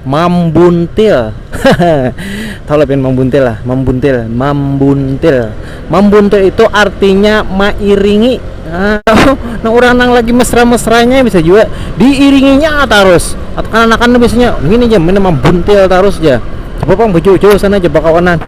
Mambuntil. Tahu lah pian mambuntil lah, mambuntil, mambuntil. Mambuntil itu artinya mairingi. Nah, nah orang nang lagi mesra-mesranya bisa juga diiringinya terus. Atau kan anak anak biasanya ini aja mana mambuntil terus aja. Coba pang bujur-bujur sana aja bakawanan.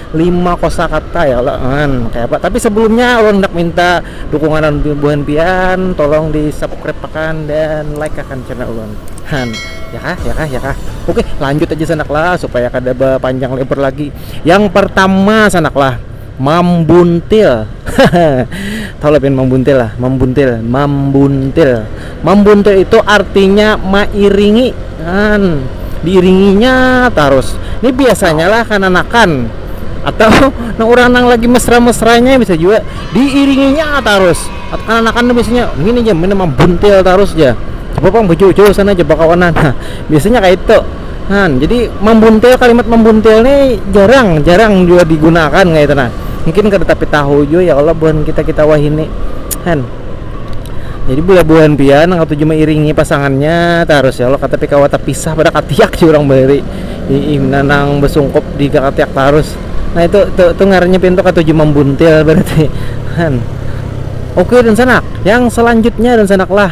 lima kosakata ya Allah kan kayak apa tapi sebelumnya ulun hendak minta dukungan buhan pian tolong di subscribe akan dan like akan channel ulun han ya kah ya kah ya kah oke lanjut aja sanak lah supaya kada panjang lebar lagi yang pertama sanak lah mambuntil Tahu lah pian mambuntil lah, mambuntil, mambuntil. Mambuntil itu artinya mairingi, kan diiringinya tarus. Ini biasanya lah kananakan atau nang urang nang lagi mesra-mesranya bisa jua diiringinya tarus. Atau kananakan tu biasanya ngini ja mambuntil tarus ja. Coba pang bejauh-jauh sana ja bakawanan. Biasanya kaitu. Han, jadi mambuntil kalimat mambuntil ni jarang jarang jua digunakan kayak itu nah mungkin kada tapi tahu jua ya Allah buhan kita kita wahini Han jadi bila buhan pian nang katuju mairingi pasangannya tarus ya Allah katapi kawa tapisah pada katiak jua orang bahari ina nang basungkup di katiak tarus nah itu itu, itu ngarannya pian tu katuju mambuntil berarti Han oke dan sanak yang selanjutnya dan sanak lah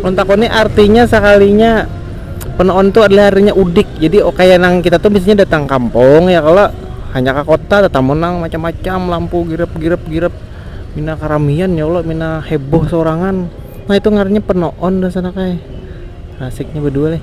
Ulun takuni artinya sakalinya penaon tu adalah artinya udik jadi kaya nang kita tu biasanya datang kampung ya kalo hanyar ka kota tatamu nang macam-macam lampu girap girap girap pina karamian ya kalo pina heboh saurangan nah itu ngarannya penaon rasanya kaya asiknya badua leh.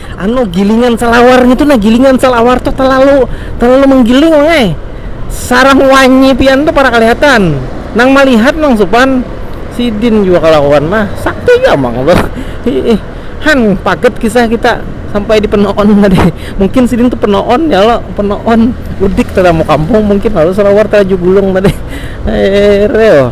anu gilingan salawar ngitu nah gilingan salawar tuh terlalu terlalu menggiling wangai sarang wanyi pian tuh para kelihatan nang melihat nang supan sidin jua kelakuan mah sakti jua mang tuh hiih han paget kisah kita sampai di penoon tadi mungkin sidin tuh penoon ya lo penoon udik tetamu kampung mungkin lalu salawar teraju gulung tadi heeh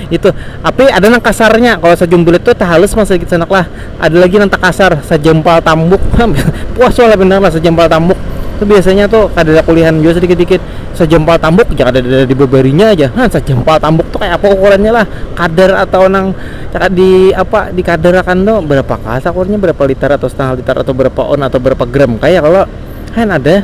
Itu, api ada nang kasarnya, kalo sajumbulit tu tahalus pang sadikit sanak lah, ada lagi nang takasar, sajampal tambuk, puas wala banar lah sajampal tambuk tu biasanya tu kadada kulihan jua sadikit-dikit, sajampal tambuk ja kadada dibabarinya ja, ha sajampal tambuk tu kaya apa ukurannya lah, kadar atau nang kada di apa di kadar akan tu barapa ka sakurnya barapa litar atau setangah litar atau barapa on atau barapa gram kaya kalo, hen ada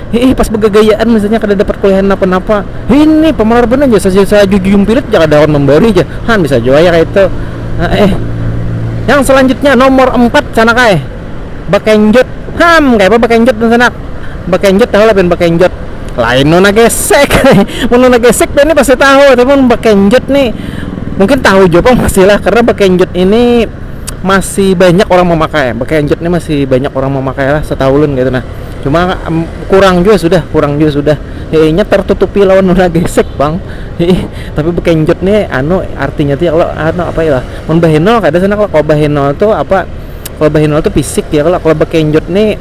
Hiih pas bagagayaan misalnya kadada parkuliahan napa-napa, hini pamalar banar ja sajujumpirit ja kada kawan mambari ja, han bisa jua ya kaitu. Haeh. Yang salanjutnya nomor empat sanak ai, bakenjot. Ham, kayapa bakenjot nih sanak? Bakenjot tahu lah pian bakenjot. Lain nuna gesek, mun nuna gesek pian nih pasti tahu, tapi mun bakenjot nih mungkin tahu jua pang pasti lah karena bakenjot ini masih banyak orang mamakai, bakenjot nih masih banyak orang mamakai lah setahu ulun kaitu nah. cuma um, kurang juga sudah kurang juga sudah kayaknya tertutupi lawan nuna gesek bang Hei, tapi bekenjut nih anu artinya tuh ya kalau anu apa ya mun bahenol kada sana kalau kalau bahenol tuh apa kalau bahenol tuh fisik ya kalau kalau bekenjut nih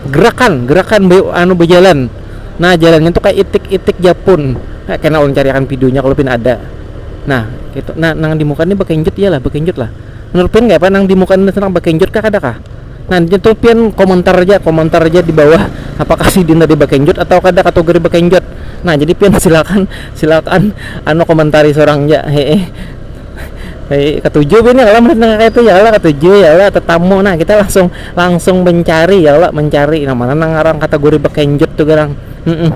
gerakan gerakan be, anu berjalan nah jalannya tuh kayak itik-itik Japun nah, kena ulun cariakan videonya kalau pin ada nah itu nah nang di muka nih bekenjut iyalah bekenjut lah menurut pin nggak apa nang di muka nih senang bekenjut kah ada kah Nah itu pian komentar aja, komentar aja di bawah apakah sidin tadi bakenjot atau kada katugari bakenjot. Nah jadi pian silakan silakan anu komentari sorang ja hehe. Hehe katuju pian ya kalo nang kaya itu ya kalo katuju ya kalo tatamu nah kita langsung langsung mencari ya kalo mencari nang mana nang ngaran kategori bakenjot tu garang heeh.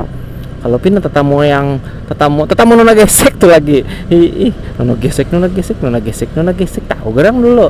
Kalo pian tatamu yang tatamu tatamu nona gesek tu lagi hiih nona gesek nona gesek nona gesek nona gesek tahu garang dulu.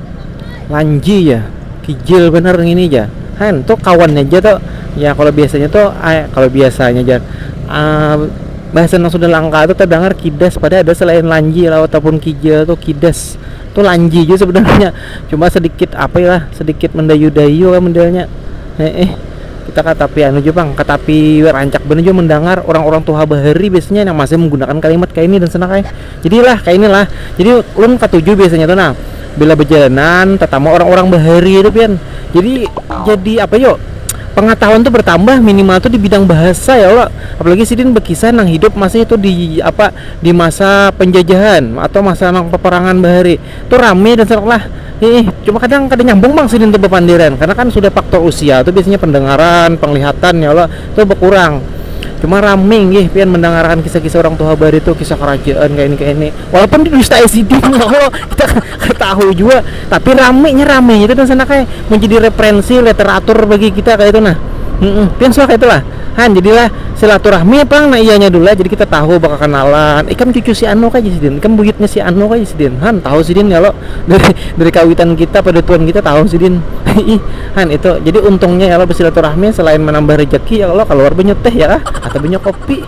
Lanji ja, kijil banar ngini ja han tu kawannya ja tu ya kalo biasanya tu kalo biasanya ja bahasa nang sudah langka tu tadangar kidas pada ada selain lanji lah atau pun kijil tu kidas tu lanji ja sebenarnya cuma sedikit ape lah sedikit mendayu-dayu lah modelnya heeh kita kada tapi anu ja pang kada tapi rancak banar jua mendangar orang-orang tuha bahari biasanya nang masih menggunakan kalimat kaya ini dan sanak ai. Jadi lah kayak inilah. Jadi ulun katuju biasanya tuh nah bila bejalanan tetamu orang-orang bahari itu pian. Jadi jadi apa yo pengetahuan tuh bertambah minimal tuh di bidang bahasa ya Allah. Apalagi sidin bekisah nang hidup masih itu di apa di masa penjajahan atau masa nang peperangan bahari. tu rame dan serak lah Iih, cuma kadang kada nyambung bang sidin tu bepandiran karena kan sudah faktor usia tu biasanya pendengaran, penglihatan ya Allah tu bekurang cuma rame gih pian mendengarkan kisah-kisah orang tuha bahari tu kisah kerajaan kaya ini kaya ini walaupun didustai sidin ya Allah kita kada tahu jua tapi rame nya rame nya tu dan sana kaya menjadi referensi literatur bagi kita kaya itu nah hmm pian suah kaya itu lah. han jadilah silaturahmi pang nah iyanya dulu lah jadi kita tahu bakakenalan ikam cucu si anu kah sidin ikam buyutnya si anu kah sidin han tahu sidin kalo dari dari kawitan kita padatuan kita tahu sidin ih han itu jadi untungnya ya kalo basilaturahmi selain manambah rejeki ya kalo kaluar banyu teh ya kah atau banyu kopi.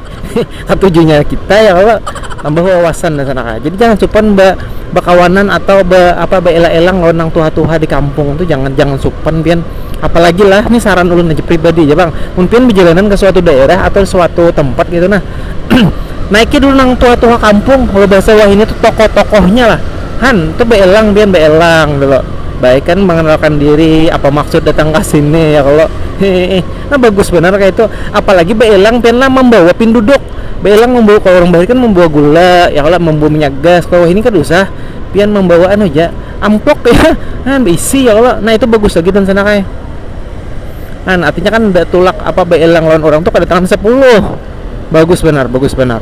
Katujunya kita ya kalo nambah wawasan dah sana kah, jadi jangan supan ba bakawanan atau ba apa baelang-elang lawan nang tuha-tuha di kampung tu jangan, jangan supan pian apalagi lah ni saran ulun haja pribadi ja pang mun pian bajalanan ka suatu daerah atau suatu tempat ketu nah naiki dulu nang tuha-tuha kampung lo bahasa wahini tu tokoh-tokohnya lah han tu baelang pian baelang tu lo baik kan manganalkan diri apa maksud datang ka sini ya kalo hihi. Nah bagus banar kaya itu, apalagi baelang pian lah mambawa pinduduk, baelang mambawa kalo urang bahari kan mambawa gula ya kalo mambawa minyak gas kalo wahini kada usah pian mambawa anu ja amplop kaya nah baisi ya kalo nah itu bagus lagi dan sana kaya nah artinya kan nda tulak apa baelang lawan urang tu kada tangan sapuluh bagus banar bagus banar.